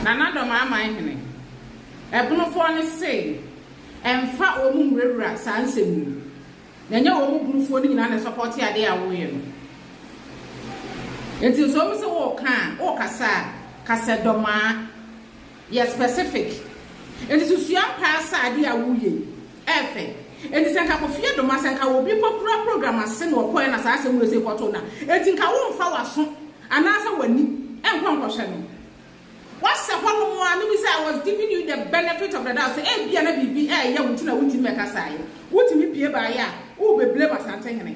Na n'adɔm aman hene, ɛbonofoɔ no se, Ɛmfa wɔn nwurawura saa nsɛm yi mu, na ɛnyɛ wɔn mu bonofoɔ no nyinaa na ɛsɔpɔɔte adeɛ a woreyɛ no. Enti nso wɔn se woreka a, worekasa a, ka sɛ dɔmaa, yɛ specific. Enti so sua mpaasa adeɛ a woreyɛ yi. Ɛyɛ fɛ. Enti sɛ nka Kofi Adomah, sɛ nka obi mpo kura program ase na ɔkɔɛ na saa asɛm wei sei kɔtoo no a, enti nka womfa w'aso anaasɛ w'ani nkɔ nkɔhwɛ no. Woasɛ hɔnom ara, me bisa, I was giving you the benefit of the doubt sɛ ebia na biribi reyɛ wo nti na wontumi mmɛkasaeɛ. Wotumi pue baeɛ a, worebɛblame Asantehene.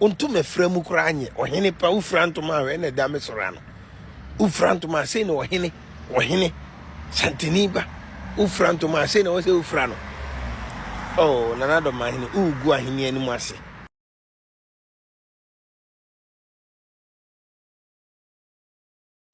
Wonto mɛfra mu koraa nyɛ. Ɔhene pa, wofira ntoma a wɛn na ɛda me soro ano. Wofira ntoma a sei na ɔhene, ɔhene, santani ba. Wofira ntoma a sei na wɔsɛ wofira no. Oh, Nana Dɔmahene, wogu ahene anim ase.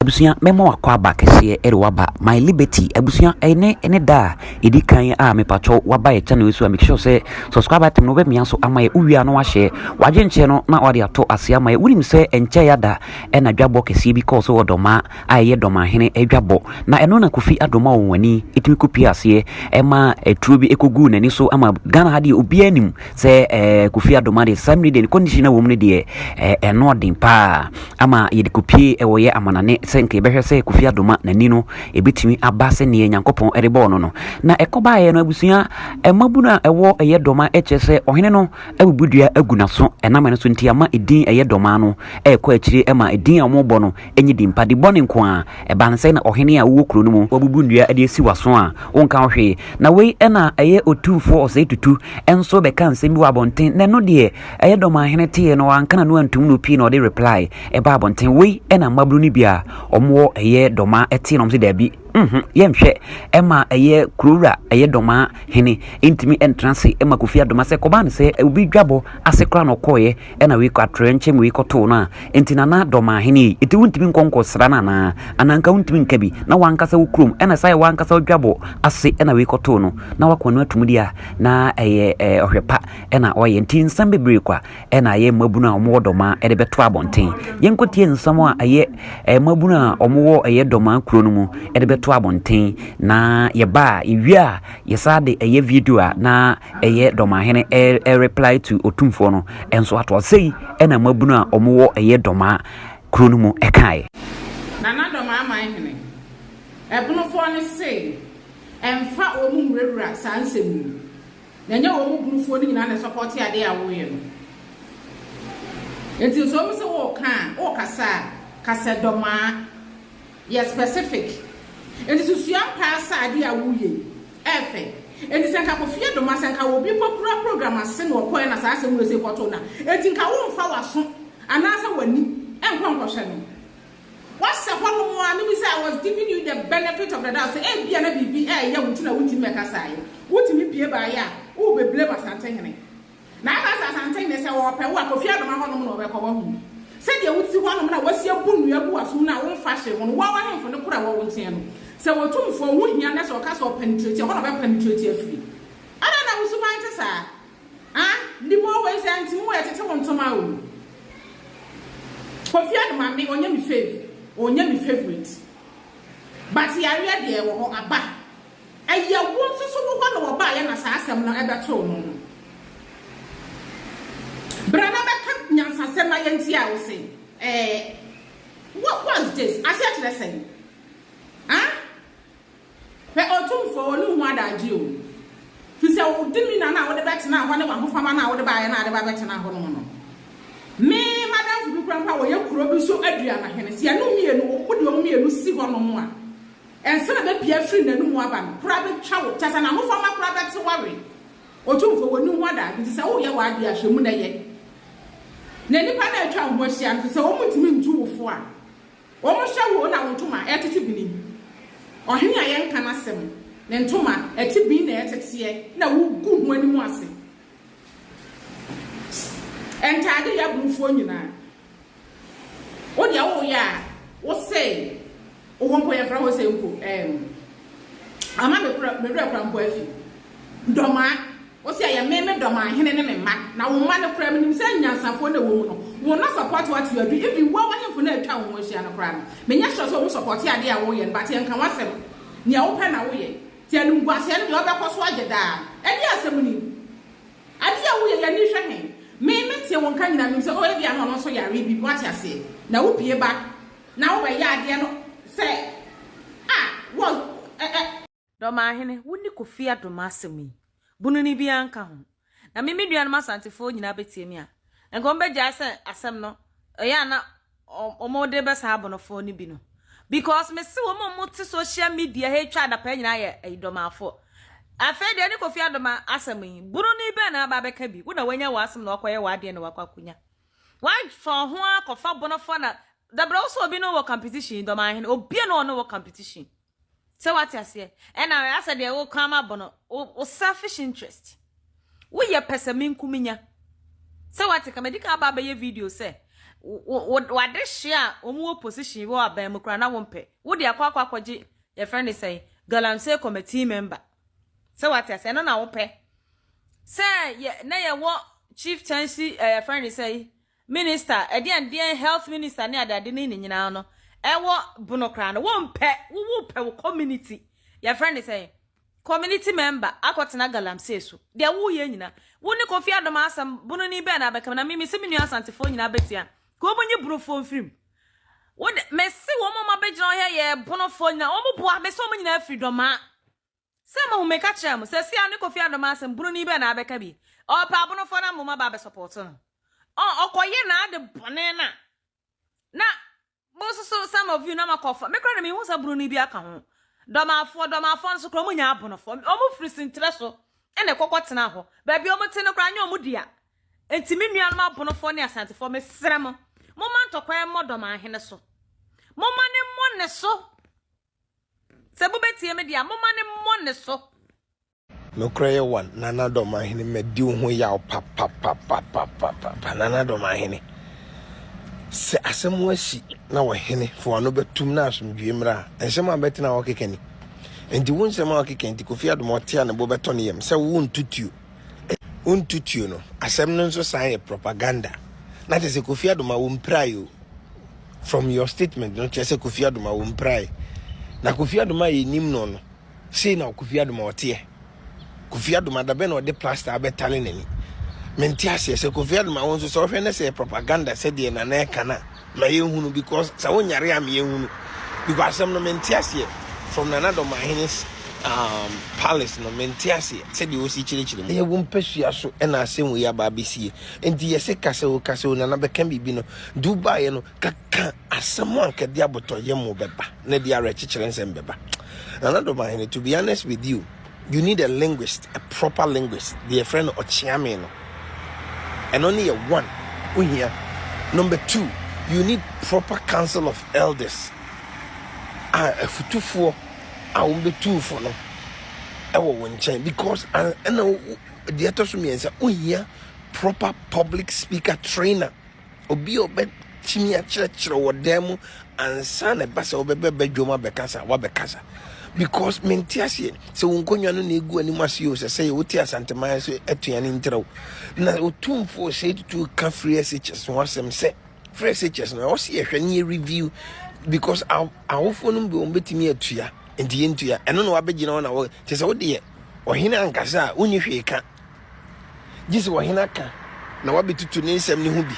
Abusua mɛma wakɔ aba kɛseɛ ɛde waba my liberty abusua ɛne ɛne da a ɛdi kan a mepatwɔ waba yɛ channel so a make sure sɛ subscribe button no bɛmia so ama yɛ wowia no wahyɛ wagye nkyɛ no na wade ato ase ama yɛ wonim sɛ ɛnkyɛ yɛ ada ɛna dwabɔ kɛseɛ bi kɔɔ so wɔ dɔma a ɛyɛ dɔma hene ɛdwabɔ na ɛno na kofi adoma wɔn ani ɛtumi kɔpie aseɛ ɛma ɛturo bi ɛkɔguu n'ani so ama Ghana ha deɛ obiara nim sɛ ɛɛ kofi adomade sam ne deɛ condition a wɔm no deɛ ɛɛ ɛno ɔden paa ama yɛde kopie ɛwɔ yɛ amanane sɛ nka yɛbɛhwɛ sɛ kofi adoma n'ani no ebetumi aba sɛ neɛ nyankopɔn ɛde bɔɔ no no na ɛkɔbaeɛ no abusua ɛmabu no a ɛwɔ ɛyɛ dɔma ɛkyerɛ sɛ ɔhene no abubu dua agu n'aso ɛnam ɛno so nti ama edin ɛyɛ dɔma no ɛkɔ akyire ɛma edin a wɔbɔ no Ɛnyɛ din pa, de bɔne nko ara. Ɛbaa no sɛn na ɔhene a wowɔ kuro no mu, woabubu nnua de asi w'aso a wonka ho hwee, na wei na ɛyɛ otumfoɔ ɔsɛetutu nso bɛka nsɛm bi wɔ abɔnten na ɛno deɛ ɛyɛ dɔ maa hene teeɛ na wanka n'ano antom no pii na ɔde reply baa abɔnten, wei na mmabunu no bi a wɔwɔ ɛyɛ dɔ ma ɛteeɛ na wɔse daabi. Nhun, yɛnhwɛ ɛma ɛyɛ kurowura ɛyɛ dɔmaa hene ntumi ntra ase ɛma kofi adoma sɛ kɔbaa ne sɛ obi dwabɔ ase kora na ɔkɔɔyɛ ɛna wei kɔ atorɛ nkyɛn wei kɔtoo no a nti nana dɔmaa hene yi ɛti wontumi nkɔ nkɔ sra no anaa anaa nka wontumi nka bi na wankasa wo kurom ɛna saa yɛ wankasa ɔdwabɔ ase ɛna wei kɔtoo no na wakɔ no atum di a na ɛyɛ ɔhwɛ pa ɛna ɔyɛ nti nsɛm bebree kwa na ɛyɛ mmabunu a wɔwɔ dɔmaa de bɛto abɔnten yɛnkɔ tie nsɛm a ɛyɛ eh, mmabunu a wɔwɔ ɛyɛ dɔmaa kuro no mu de bɛto abɔnten na yɛba a yɛwie a yɛsa de ɛyɛ video a na ɛyɛ dɔmaahene eh, reply to otumfoɔ no nso ato ase yi ɛna mmabunu a wɔwɔ ɛyɛ dɔmaa kuro no mu ɛkaeɛ nana dɔmaa man hene ɛbonofoɔ no se ɛmfa wɔn nwurawura saa nsɛm mu Na ɛnyɛ wɔn mu burufoɔ no nyinaa na ɛsɔpɔɔte adeɛ a woreyɛ no. Enti sɛ wɔn sɛ woreka a, worekasa a, ka sɛ dɔmaa. Yɛ specific. Enti so sua mpaa sɛ adeɛ a woreyɛ yi, ɛyɛ fɛ. Enti sɛ nka Kofi Adomah, sɛ nka obi kɔkura program ase na ɔkɔɛ na saa asɛm wei sei kɔtoo no a, enti nka womfa w'aso anaasɛ w'ani nkɔ nkɔhwɛ no. Wɔahyɛ hɔnom a no bi sɛ, I was giving you the benefit of the doubt, sɛ ebia na biribi reyɛ wo nti na wuntumi mmɛkasaeɛ. Wotumi pue baeɛ a, worebɛblame Asantehene. Na ɛba sɛ Asantehene sɛ ɔrepɛ wo a, Kofi Adoma hɔnom na ɔbɛkɔ. Woahu? Sɛdeɛ wote hɔnom na woasi abu nnua gu w'asom no a womfa hwee ho no, wo ara w'ahemfo no koro a ɛwɔ wo nkyɛn no, sɛ Otumfoɔ ho hia na sɛ ɔka sɛ ɔpenetrate a, ɛhɔ na ɔbɛpenetrate afiri. Adɛn na wo suban te saa? Ah ndibɔ wei sɛ nti mo wɛ tete wo ntoma oo Kofi and Mame ɔnyɛ me fave ɔnyɛ me favourite but yareɛ deɛ ɛwɔ hɔ aba ɛyɛ wo nso so wo hɔ na wɔbaayɛ na saa asɛm no ɛbɛtoo no no bra na bɛka nyansasɛm ma yɛntia wo se ɛɛ what was this aseɛ kyerɛ sɛn ah. Hwɛ Otumfoɔ, wo ne ho adagye o, firi sɛ wo de me nna no a wode bɛtenaa hɔ ne w'ahofama no a wode baeɛ no a wode ba bɛtenaa hɔ no mu no, me m'adamfo bi koraa mpo a wɔyɛ kuro bi so aduanahene, sɛ yɛne wo mmienu, wode wɔn mmienu si hɔnom a, nsa a ɛbɛpue afiri n'anomu aba no koraa bɛtwa wo, kyerɛ sɛ n'ahofama koraa bɛte wo awe. Otumfoɔ, wo ne ho adagye, ɛfiri sɛ woyɛ w'adeɛ a, hwɛ mu na yɛ. Na nnipa no a atwa wo ho ahyia no, ɛfiri sɛ wɔntumi ntu wo fo a, Wɔhyɛ wo na wo ntoma ɛretete bini, ɔhene a yɛnka n'asɛm, ne ntoma ɛte bin na ɛteteɛ na wogu ho anim ase ntaade yɛ aborofoɔ nyinaa. Wo deɛ woyɛ a wosɛe wo ho mpo yɛmfra hɔ sɛ mpo ɛɛm ama me werɛ kora mpo afi dɔmaa. Ose ɛyɛ me, me dɔ m'ahene ne me mma, na wo mma no koraa menim sɛ nyansafoɔ na ɛwɔ mu no, wɔn na support wo ato adu, even wo awahemfo no a atwa wo ho ahyia no koraa no, menyɛ sure sɛ wɔn support adeɛ a woreyɛ no, but yɛnka w'asɛm, nea wopɛ na woyɛ, nti animguaseɛ no deɛ wobɛkɔ so agye daa, ɛdeɛn asɛm ni? Adeɛ a woyɛ yi ani hwɛ he? Me, metie wo nka nyinaa, menim sɛ oh ebia na ɔno nso yareɛ bi, woate aseɛ, na wopue ba na wobɛyɛ adeɛ no sɛ ah, wo, eh, eh. Domahene, wo ne Kofi adom m'asɛm yi. Bunu no biara nka ho. Na me me nuanom Asantefoɔ nyinaa bɛtie me a, nka wɔbɛgyae sɛ asɛm no, ɛyɛ a na wɔde bɛ saa abonofoɔ no bi no. Because me se wɔn a wɔte social media ha twa adapaa nyinaa yɛ ayidomafoɔ. Afei deɛ ne Kofi adom asɛm yi, bunu no bɛn na aba abɛka bi? Wo na wanya w'asɛm na wakɔyɛ w'adeɛ na wakɔ akɔnya. Wafa wo ho akɔfa bonofoɔ na dabrɛ wo sɛ obi ne wɔ competition, Domahene, obia ne ɔne wɔ competition. Sɛ wate aseɛ ɛna asɛ deɛ wo kɔn ama bɔ no wo selfish interest wo yɛ pɛsɛ menku menya sɛ wate ka medi kan aba abɛyɛ video sɛ wade hye a wɔn wɔ position wɔ aban mu kora na wɔn pɛ wo de akɔ akɔ akɔgye yɛ friend ne sɛn galamsey committee member sɛ wate aseɛ no na wo pɛ sɛ yɛ na yɛ wɔ chieftaincy ɛyɛ eh, friend ne sɛn Minister ɛdeɛn deɛn health minister ne adeade no ne nyinaa no ɛwɔ bono koraa no wompɛ wo wopɛ wo community yɛfrɛ ne sɛn community member akɔ tena galamsey so deɛ woyɛ nyina wo ne Kofi Adom asɛm bono ni bɛn na abɛka na me mese me nua asantefoɔ nyinaa bɛtua ka wɔn nyi bonofoɔ mfirim wo de mese wɔn wɔn abɛgyina hɔ yɛ bonofoɔ nyinaa wɔn boa mese wɔn nyinaa firi dɔmaa Sɛ mo ho meka kyerɛ mo sɛ siaa no Kofi Adom asɛm broni bɛn na abɛka bi ɔɔpɛ abonofoɔ na moma ba abɛ support no ɔɔ ɔkɔ yɛ naade bɔne na na mo nso so some of you na mo akɔ fa me koraa na menhu sɛ broni bi aka ho dɔmafoɔ dɔmafoɔ no so koraa ɔmo nyɛ abonofoɔ ɔmo firi sinterɛ so ɛna ɛkɔ kɔ tena hɔ baabi ɔmo te no koraa nyɛ ɔmo dea nti me nuanom abonofoɔ ne asantefoɔ mesrɛ mo moma ntɔkwa ɛmmɔ dɔmahene so moma ne mmɔ ne so Sɛ mobɛtie me deɛ a, momma no mmɔ ne so. Nokorɛ Yehowa, Nana Dɔmahene, madi wo ho yaw papapapapapapa. Nana Dɔmahene, sɛ asɛm asi na ɔhene fo ano bɛtom na asomdwoeɛ mmra a, nsɛm a mɛte na ɔkeka ni. Enti wo nsɛm a ɔkeka nti, Kofi Adoma ɔte a ne bo bɛtɔ ne yam sɛ wonto tuo. Wonto tuo no, asɛm no nso san yɛ propaganda. Na kyerɛ sɛ Kofi Adoma, wompirae o. From your statement no kyerɛ sɛ Kofi Adoma wɔ mpirae. Na Kofi Adoma a yɛnim no no, sei na Kofi Adoma ɔteɛ. Kofi Adoma da bɛn na ɔde plaster abɛtare n'ani. Mente aseɛ sɛ Kofi Adoma wo nso sɛ wohwɛ no sɛ yɛ propaganda sɛdeɛ Nana ɛka no a, ma yɛnhunu because sɛ wonyare a ma yɛnhunu. Because asɛm no mente aseɛ from Nana Domahene's um, palace no mente aseɛ sɛdeɛ ɔsi kyerɛkyerɛ mu. Ɛyɛ wo mpasua so ɛna asɛm wei aba abɛsie. Enti yɛse ka sɛ o, ka sɛ o, Nana bɛka biribi no, De wo baeɛ no, kaka asɛm a nka de abotɔyam bɛba na de awerɛkyekyerɛ nsɛm bɛba. Nana Domahene, to be honest with you, you need a linguist, a proper linguist. Deɛ yɛfrɛ no ɔkyeame no, ɛno ne yɛ one, wohia. Number two, you need proper council of elders a afutufoɔ a wɔbɛtu fo no ɛwɔ wo nkyɛn because ɛna deɛ ɛtɔ so mmiɛnsa wohia proper public speaker trainer Obi a ɔbɛtumi akyerɛkyerɛ wɔ dan mu ansa na ɛba sɛ wobɛbɛ badwam abɛkasa wabɛkasa because mente aseɛ sɛ wo nkonnwa no na ɛgu anim ase o sɛ sɛ yɛ wote asanteman so atua ne ntrɛw na ɔtumfoɔ sɛ tutu ka free shs ho asɛm sɛ free shs no ɛwɔ sɛ yɛhwɛ ne yɛ review because awofoɔ no bi wɔn bɛtumi atua nti yɛntua ɛno na wabɛgyina hɔ na wɔ kyɛ sɛ wodeɛ ɔhene ankasa a wonni hwee ka Gye sɛ ɔhene aka na wabetutu ne nsɛm no ho bi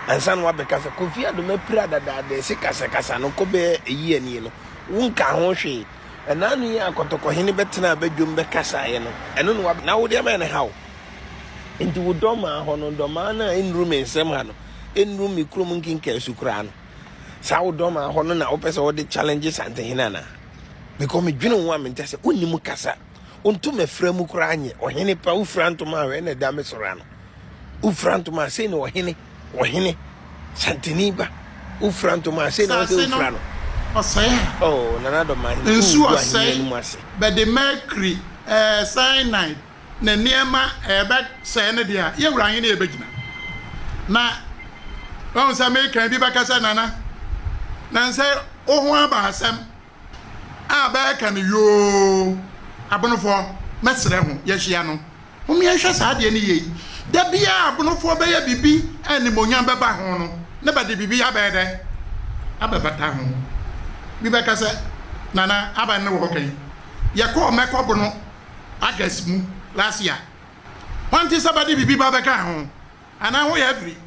ansa na wabɛka sɛ Kofi Adom apira dadaada ɛse kasakasa no kɔ bɛyɛ ayi ani no. Wonka ho hwee. Ɛnaa no yi a kɔtɔkɔhene bɛtenaa badwam bɛkasaeɛ no, ɛno na wabɛka. Na wo deɛ ma ɛne ha wo. Enti wo dɔmaa hɔ no, dɔmaa no a ɛnnuru me nsɛm ha no, ɛnnuru me kurom nkenkaasu koraa no, saa wo dɔmaa hɔ no na wopɛ sɛ wode challenge Santehene anaa? Because medwene wo ho a menkyɛ sɛ wonni mu kasa. Wonto mɛfra mu koraa nyɛ. Ɔhene pa wofira ntoma a wɛn na ɛda me soro ano. Wofira ntoma a sei na ɔhene, ɔhene, santini ba. Wofira ntoma a sei na wɔsɛ wofira no. Ɔsɛe a. Oh, Nana Dɔmahene, nsu ɔsɛe bɛde mercury, eh, cyanide, ne nneɛma eh, bɛsɛe ne deɛ a, yɛ wura ahene yɛbɛgyina. Na, wahu sɛ mekan bi bɛka sɛ, Nana, nansɛ wo ho aba asɛm. a bɛɛka no yoo abonofoɔ mɛsrɛ ho yɛhyia no hom yɛnhwɛ saa adeɛ no yie da biaa abonofoɔ bɛyɛ biribi a animonyam bɛba ho no na bɛde biribi abɛyɛ dɛ abɛbata ho bi bɛka sɛ nana aban no wɔ hɔ kɛn yɛkɔɔ mɛkɔ bono August mu last year hwan te sɛ bɛde biribi ba bɛka ho. Ana ho yɛ fri?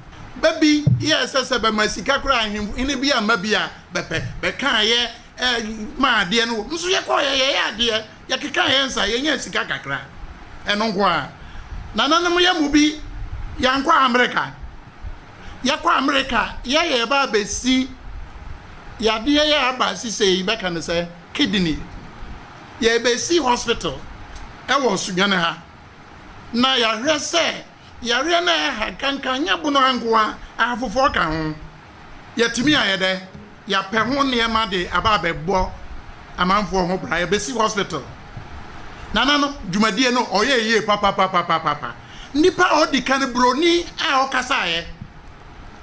Bɛ bi yɛ sɛ sɛ bɛ ma sika koraa ahenfo hene bi amma bi a bɛ pɛ. Bɛ kaa yɛ ɛ ma adeɛ no wɔ. Nso yɛ kɔɔ yɛ yɛ yɛ adeɛ, yɛ kekaa yɛ nsa, yɛ nyaa sika kakra. Ɛno nko ara. Nananom yɛ mu bi yɛ nkɔ Amerika. Yɛ kɔ Amerika yɛ yɛ ba abɛ si yɛ adeɛ yɛ aba si sei bɛ ka no sɛ kidney. Yɛ bɛ si hospital ɛwɔ Sudwane ha. Na yɛ ahwɛ sɛ Yareɛ no a ɛha nkanka nyɛ bono ha nko ara, ɛha foforɔ ka ho. Yɛatumi ayɛ dɛ? Yɛapɛ ho nneɛma de aba abɛbɔ amanfoɔ ho bra, yɛbɛsi hospital. Nana no dwumadie no ɔyɛɛ yie papapapapapa. Nnipa a ɔdi kan buroni a ɔkasaeɛ,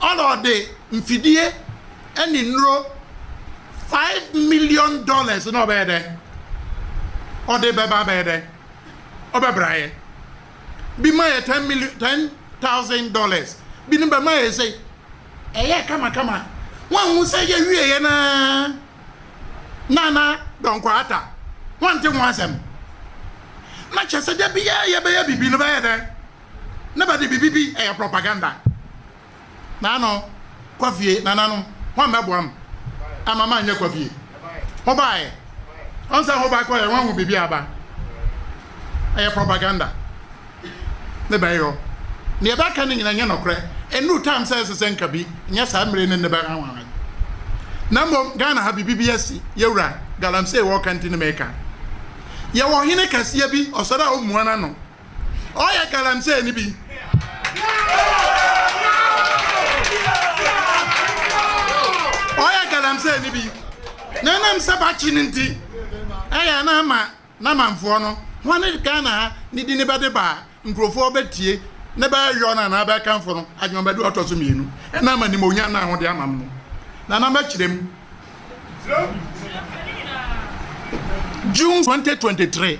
ɔna ɔde mfidie ne nnuro five million dollars na ɔbɛyɛ dɛ? Ɔde bɛba abɛyɛ dɛ? Ɔbɛbraeɛ. bi ma yɛ ten million ten thousand dollars bi no bɛma yɛ sɛ ɛyɛ kamakama wɔnhu sɛ yɛwie yɛ na nana dɔnkɔ ata wɔnte ho asɛm na kyɛ sɛ da biara yɛbɛyɛ biribi no bɛyɛ dɛ na bɛde biribi bi ɛyɛ propaganda Naano, kɔ fie, nananom, hwan bɛboa me ama manyɛ kɔ fie? Hobaeɛ. Ɔn sɛ hobae kɔeɛ hwan hu biribi aba? Ɛyɛ propaganda. Ne bɛyɛ hɔ. Neɛ bɛka no nyina nyɛ nɔkorɛ. Ɛnnuru time sɛ ɛsɛ sɛ nka bi nyɛ saa mmire ne nnɛ bɛhanwahan. Na mmom Ghana ha biribi bi asi, Yɛwura Galamsey wɔka nti ne meka. Yɛwɔ Ɔhene kɛseɛ bi, ɔsɔre a ɔmmua n'ano, Ɔyɛ galamsey ni bi. Ɔyɛ galamsey ni bi. Na ɛnam sɛ bakye no nti, ɛyɛ na ama n'amanfoɔ no, wɔn ne Ghana ha ne di ne bɛde ba a, nkurɔfoɔ bɛtie ne bɛyɔ no anaa bɛkamfo no adwemabaduru ɔtɔ so mmienu. Ɛnam animuonyam no a wɔde ama no no. Nana mɛkyerɛ mu. June 2023.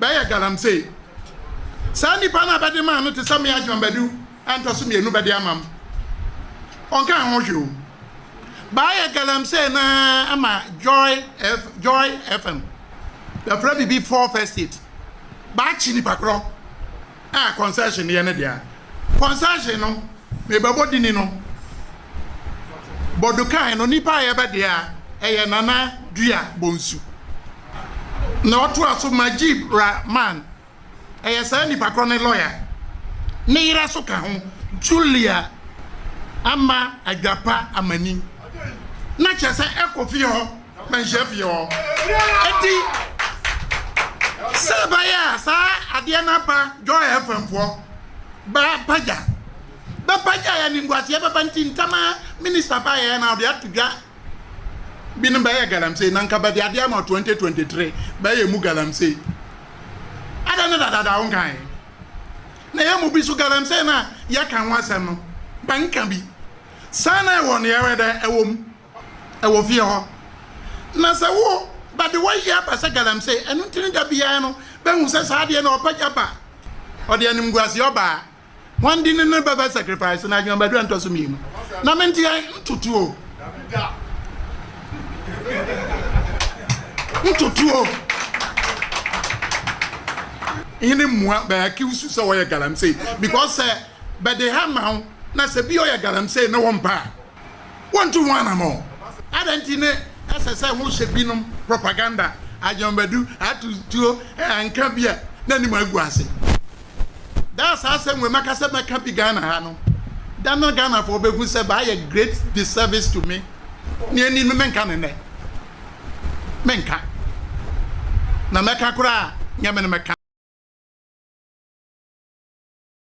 Bɛyɛ galamsey. Saa nnipa no a bɛde maa no te sɛ mmea John Badu a ntɔ so mmienu bɛde ama m'. Ɔnkaa ho hwee o. Bɛayɛ galamsey no ara ama Joy F, Joy FM. Bɛfrɛ biribi Fourth Estate. Bɛakye nnipa korɔ. a concession yɛ ne dea. Concession no me bɛbɔ dini no bɔdukan no nipa a yɛbɛ dea ɛyɛ Nana Dua Bonsu na ɔtoa so Majib Rahman ɛyɛ saa nipa korɔ ne lɔya ne yera so ka ho Julia Ama Adwapa Amani na kyɛ sɛ ɛkɔ fie hɔ. Mɛnhyɛ fie hɔ. Eti sɛ ɛbɛyɛ a saa adeɛ no aba Joy FM foɔ bɛ pagya bɛ pagya yɛ animguaseɛ bɛba nti ntɛm ara minister baeɛ na ɔde ato dwa bi no bɛyɛ galamsey na nka bɛde adeɛ ama 2023 bɛyɛ mu galamsey adɛ ne dadada wo nkae na yɛ mu bi so galamsey na yɛka ho asɛm no bɛnka bi saa na ɛwɔ no yɛwɛ dɛ ɛwɔ mu wɔ fie hɔ, na sɛ wo ba de wayi aba sɛ galamsey, ɛno nti ne da biara no bɛhu sɛ saa adeɛ no ɔpa gya ba, ɔde animguaseɛ ɔbaa. Hwan din ne no bɛbɛ sacrifice no adwuma badua ntɔso mmienu? Na me nteɛ ntotoɔ ntotoɔ hene mmua bɛ accuse you sɛ wɔyɛ galamsey because sɛ bɛde ha ma wo na sɛ bi ɔyɛ galamsey na wɔmpa a. wontu ho anammɔn. Adɛn nti ne ɛsɛ sɛ wohyɛ binom propaganda, adwambadu, atu tuo, nka bi a n'anim agu ase? Da a saa asɛm wei maka sɛ mɛka bi Ghana ha no, da no Ghanafoɔ bɛhu sɛ mayɛ great disservice to me. Nea ɛnni no menka no nnɛ. Menka. Na mɛka koraa a, nyɛ me na mɛka.